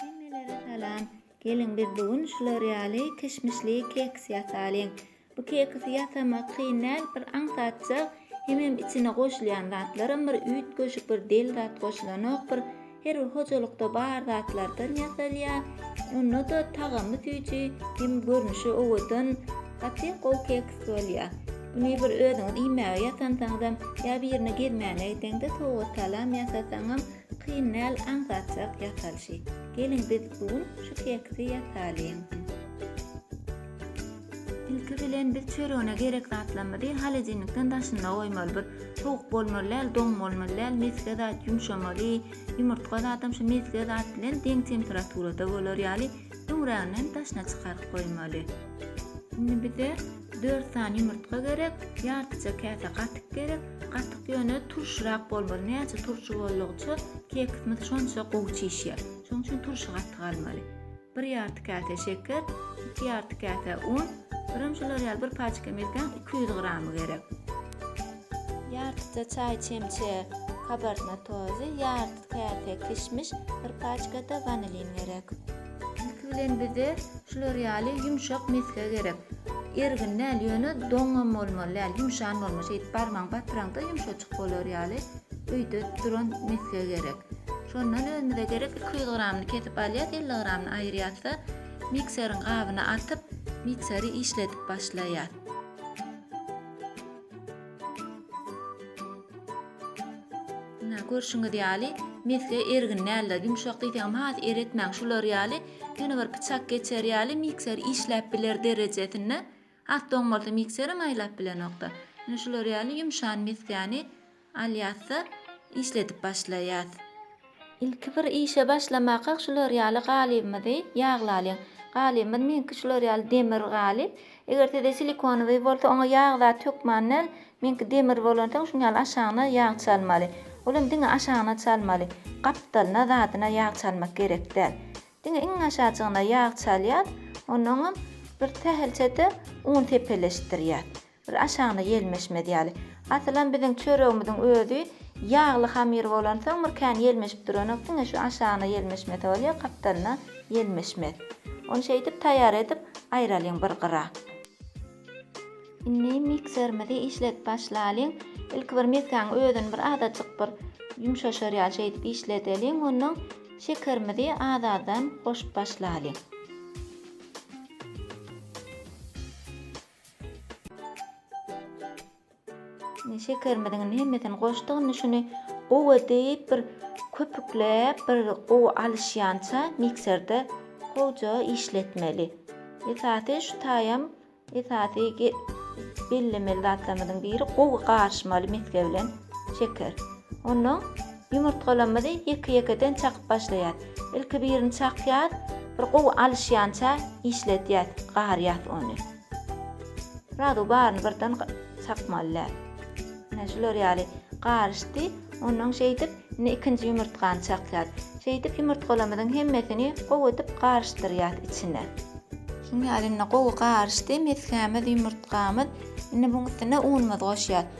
Hemmelere salam. Geliň biz bu gün şular ýaly kişmişli keks ýasalyň. Bu keksi ýasamak kyn däl bir aňsatjak hemem içine goşulýan zatlaram bir üýtgeşik bir del zat goşulanok bir her bir hojalykda bar zatlardan ýasalýa onda da tagamy süýji hem görnüşi owadan gaty gowy keks bolýa. Muny bir özüňiz iýmäge ýasansaňyzam ýa birine gezmäne gitseňde sowgat salam ýasasaňam Kyn däl aňsatjak ýasalyşy. Geliň biz bu gün şu keksi ýasalyň. Ilki bilen biz çöregine gerek zatlarymyzy holodilnikden daşynda goýmaly. Bir sowuk bolmaly däl, doň bolmaly däl, mesge zat ýumşamaly. Ýumurtga zadam şu mesge zat bilen deň temperaturada bolar ýaly öňräginem daşyna çykaryp goýmaly. Indi bize Dört sany ýumurtga gerek, ýartyja käse gatyk gerek, gatyk ýöne turşyrak bolmaly, näçe turşy boldugyça keksimiz şonça gowy çişýär. Şonuň üçin turşy gatyk almaly. Bir ýarty käse şeker, iki ýarty käse un, birem şular ýaly bir paçka milkäň iki ýüz gramy gerek. Ýartyja çaý çemçe kabartma tozy, ýarty käse kişmiş, bir paçka-da wanilin gerek. Ilki bilen bize şular ýaly ýumşak mesge gerek. Ergin däl, ýöne doňňam bolmaly däl, ýumşan bolmaly. Şeýdip barmagyňy batyraňda ýumşajyk bolar ýaly öýde duran mesge gerek. Şondan özümize gerek iki ýüz gramyny kesip alýas, elli gramyny aýyrýas-da, mikseriň gabyna atyp, mikseri işledip başlaýas. Ine, görşüňiz ýaly, mesge ergin däldir. Ýumşak diýseňem has eretmäň. Şular ýaly, ýöne bir pyçak geçer ýaly mikser işläp biler derejesinde. Has doň bolsa mikserem aýlap bilenokda. Ine, şular ýaly ýumşan mesgäni Alýas-da, işledip başlaýas. Ilki bir işe başlamakak şular ýaly galybymyzy ýaglalyň. Galybymyz meňki şular ýaly demir galyp. Eger sizde silikonowyý bolsa, oňa ýag zat hökman däl, meňki demir bolansoň şuň ýaly aşagyna ýag çalmaly. Ol hem diňe aşagyna çalmaly. Gapdalyna, zadyna ýag çalmak gerek däl. Diňe iň aşajygyna ýag çalýas, onnoňam bir sähelçe-de un sepeleşdirýäs. Bir aşagyna ýelmeşmez ýaly. Asylam biziň çöregimiziň özi ýagly hamyr bolansoň bir kän ýelmeşip duranok, diňe şu aşagyna ýelmeşmese bolýar, gapdalyna ýelmeşmez. Ony şeýdip taýýar edip aýralyň bir gyra. Indi mikserimizi işledip başlalyň. Ilki bir mesgäň özüni bir azajyk bir ýumşaşar ýaly şeýdip işledeliň, onnoň şekerimizi az-azdan goşup başlalyň. Indi şekerimiziň indi hemmesini goşduk. Indi şuny gowy edip bir köpükläp, bir gowy alyşýança mikserde gowja işletmeli. Esasy şu taýam esasy bellemeli zatlarymyzyň biri gowy garyşmaly mesge bilen şeker. Ondan Ýumurtgalamyzy ýeke-ýekeden çakyp başlaýas. Ilki birini çakýas, bir gowy alyşýança işledýäs, garýas ony. Srazu baryny birden çakmaly däl. Ine, şular ýaly garyşdy. Ondan şeýdip, indi ikinji ýumurtgany çakýas. Şeýdip, ýumurtgalamyzyň hemmesini gowy edip garyşdyrýas içine. Şunuň ýaly indi gowy garyşdy mesgämiz, ýumurtgamyz. Indi munuň üstüne unumyzy goşýas.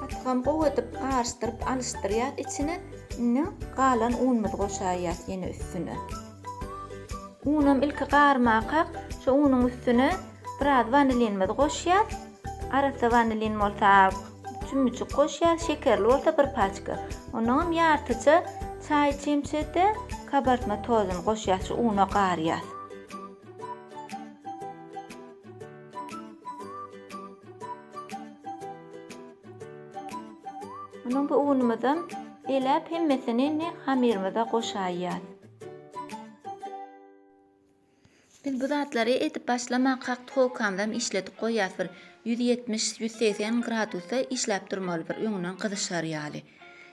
Patakam gowy edip garyşdyryp alyşdyrýas içine indi galan unumyzy goşaýýas ýene üstüne. Unam ilki garmakak şu unuň üstüne biraz wanilinimizi goşýas arassa wanilin bolsa çümmüjik goşýas şekerli bolsa bir paçka onnoňam ýartyja çaý çemçede kabartma tozuny goşýas şu una garýas. Munuň bu unumyzam eläp hemmesini indi hamyrymyza goşaýýas. Biz bu zatlary edip başlamak hak tolkamyzam işledip goýýas bir ýüz ýetmiş, ýüz segsen gradusda işläp durmaly bir öňünden gyzyşar ýaly.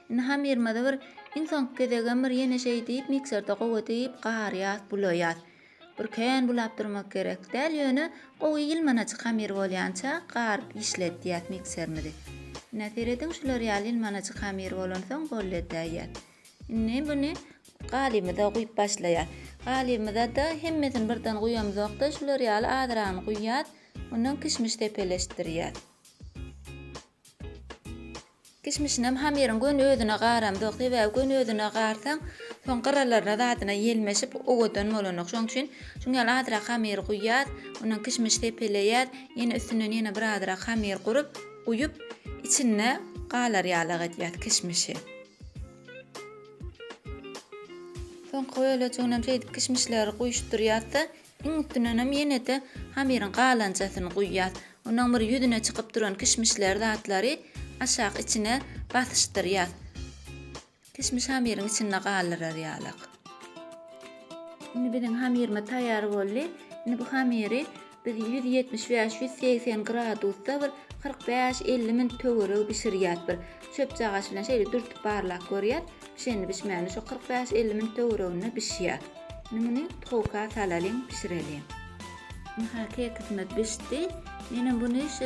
Indi hamyrymyzy bir iň soňky gezegem bir ýene şeý diýip mikserde gowy edip garýas, bulaýas. Ürkeýän bulap durmak gerek däl, ýöne gowy ýylmanajyk hamyr bolýança garyp işletýäs mikserimizi. Ine, serediň şular ýaly ýylmanajyk hamyr bolansoň golletäýýäs. Indi muny galymyza guýup başlaýas. Galymyza-da hemmesini birden guýamzok-da, şular ýaly azragyny guýýas. Ondan kişmiş sepeleşdirýäs. Kişmişinem hamyryň göni özüne garamzok, sebäbi göni özüne garsaň, soň gyralaryna zadyna ýelmeşip, owadan bolanok. Şonuň üçin şuň ýaly azrak hamyry guýýas, ondan kişmiş sepeleýäs, ýene üstünden ýene birazrak hamyr gurup, guýup, içinde galar ýalak edýäs kişmişi. Soňky bölejiginem şeýdip kişmişleri guýuşdyrýas-da, Iň üstünenem ýene-de hamyryň galançasyny guýýas. Onuň bir ýüzüne çykyp duran kişmişler zatlary aşak içine basyşdyrýas. Kişmiş hamyryň içinde galyrar ýalyk. Indi biziň hamyrymyz taýýar boldy. Indi bu hamyry biz ýüz ýetmiş bäş, ýüz segsen gradusda bir kyrk bäş, elli minut töweregi bişirýäs. Bir çöpjagaç bilen şeýle dürtüp barlap görýäs. Pişeni bişmäne şo kyrk bäş elli minut töwereginde bişýär. Indi muny towka salalyň, bişireliň. Aha, kekisimiz bişdi. Menem buny şu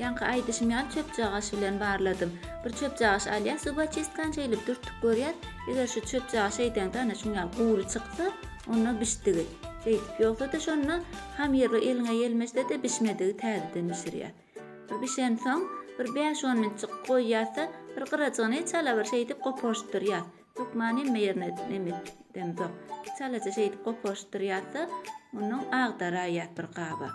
ýaňky aýdyşym ýaly çöpjagaş bilen barladym. Bir çöpjagaş alýas, zubaçistkan şeýlip dürtüp görýäs. Eger şu çöpjagaş şeýdeňde ana şuň ýaly gury çyksa, onda bişdigi. Şeýdip, ýogsa-da şonda hamyrly eliňe ýelmese-de bişmedigi täzeden bişirýär. Bu bişensoň, bir bäş-on minutjyk goýýas-da, bir gyrajygyny çala bir şeýdip goparyşdyrýas. Hökman hemme ýerine nem etdemzok. Çalaja şeýdip goparyşdyrýas-da, mundan agdaraýýas bir gaba.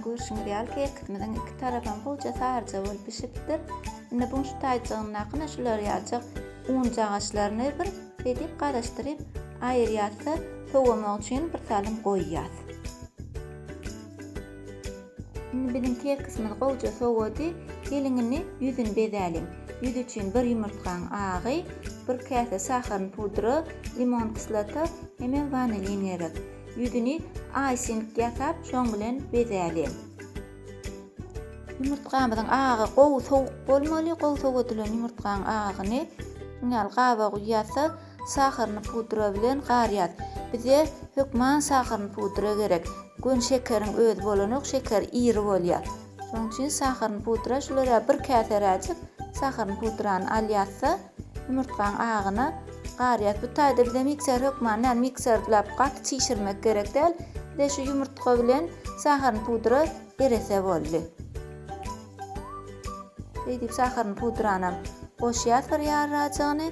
Görşüňiz ýaly, kekimiziň iki tarapam gowyja saryja bolup bişipdir. Indi buň şu taýjygyndakyna şular ýaljak unjagaşlaryny bir beýdip garyşdyryp aýyrýas-da, sowamak üçin bir salym goýýas. Indi biziň kekisimiz gowyja sowady. Geliň indi ýüzüni bezäliň. Ýüz üçin bir ýumurtgaň agy, bir käse şaharyny pudra, limon kislota hemem wanilin gerek. Ýüzüni aýsing ýasap şoň bilen bezäliň. Ýumurtgamyzyň agy gowy sowuk bolmaly, gowy sowadylan ýumurtgaň agyny şuň ýaly gaba guýýarsyz, saharyny pudra bilen garýas. Bize hökman saharyny pudra gerek, göni şekeriň özi bolanok, şeker iri bolýar. Şonuň üçin sahyryny pudra şulara bir käseräjik sahyryny pudrany al ýazsa, ýumurtgaň agyna gar ýaz. Bu taýda bize mikser hökman däl, mikserlap gaty çişirmek gerek däl. Bize şu ýumurtga bilen sahyryny pudra erese boldy. Şeýdip sahyryny pudranam goşýas bir ýarrajygyny.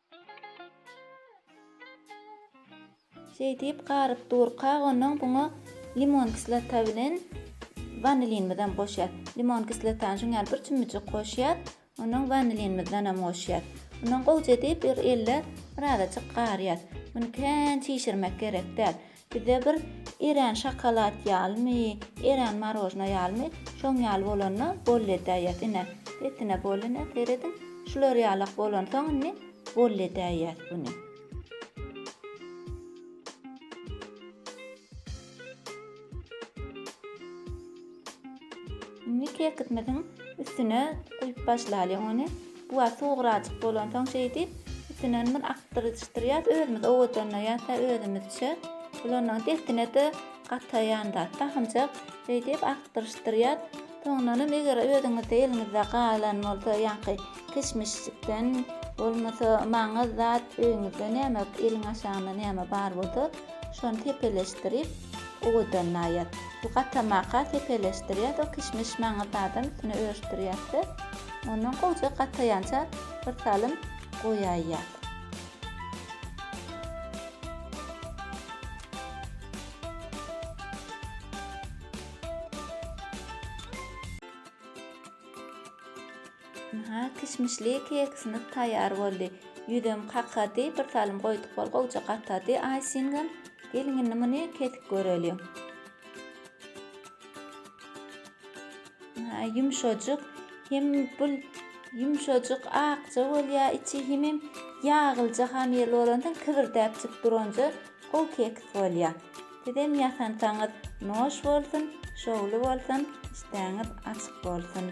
Şeýdip garyp durka ondan buňa limon kislota bilen wanilinimizem goşýas. Limon kislotany şuň ýaly bir çümmüjik goşýas. Ondan wanilinimizden hem goşýas. Ondan gowja edip bir elde birazajyk garýas. Muny kän çişirmek gerek däl. Bize bir erän şokolad ýalymy, erän marojna ýalymy, şoň ýaly bolanda bolledäýýäs. Ine, sesine bol ine, serediň. Şular ýalak bolansoň indi bolledäýýäs buny. Indi kerkitmediň üstüne guýup başlalyň ony. Bu wagt sugurajyk bolansoň şeýdip üstüne bir akdyryşdyrýas özümiz owadanlaýas da özümizçe. Bulandan dessine-de gataýan zat tahynjak. Şeýdip akdyryşdyrýas. Soňundan hem eger özüňizde eliňizde galan bolsa ýaňky kişmişjikden bolmasa maňyz zat öýüňizde näme eliň aşagynda näme bar bolsa Şony sepeleşdirip owadan naýat. Bu gatamaka sepeleşdirýäs o kişmiş maňyz zadam üstüne örüşdirýäs-de, ondan gowja gataýança bir salym goýaýýas. Aha, kişmişli keksimiz taýýar boldy. Ýüzem kakady, bir salym goýduk bol gowja gatady Aýsingem. Geliň indi muny kesip göreliň. Aha, ýumşajyk. Hem bu ýumşajyk akja bolýar içi hemem ýaglyja hamyrly bolansoň kibirdäpjik duranja gowy keks bolýar. Sizem ýasansaňyz noş bolsun şowly bolsun işdäňiz açyk bolsun.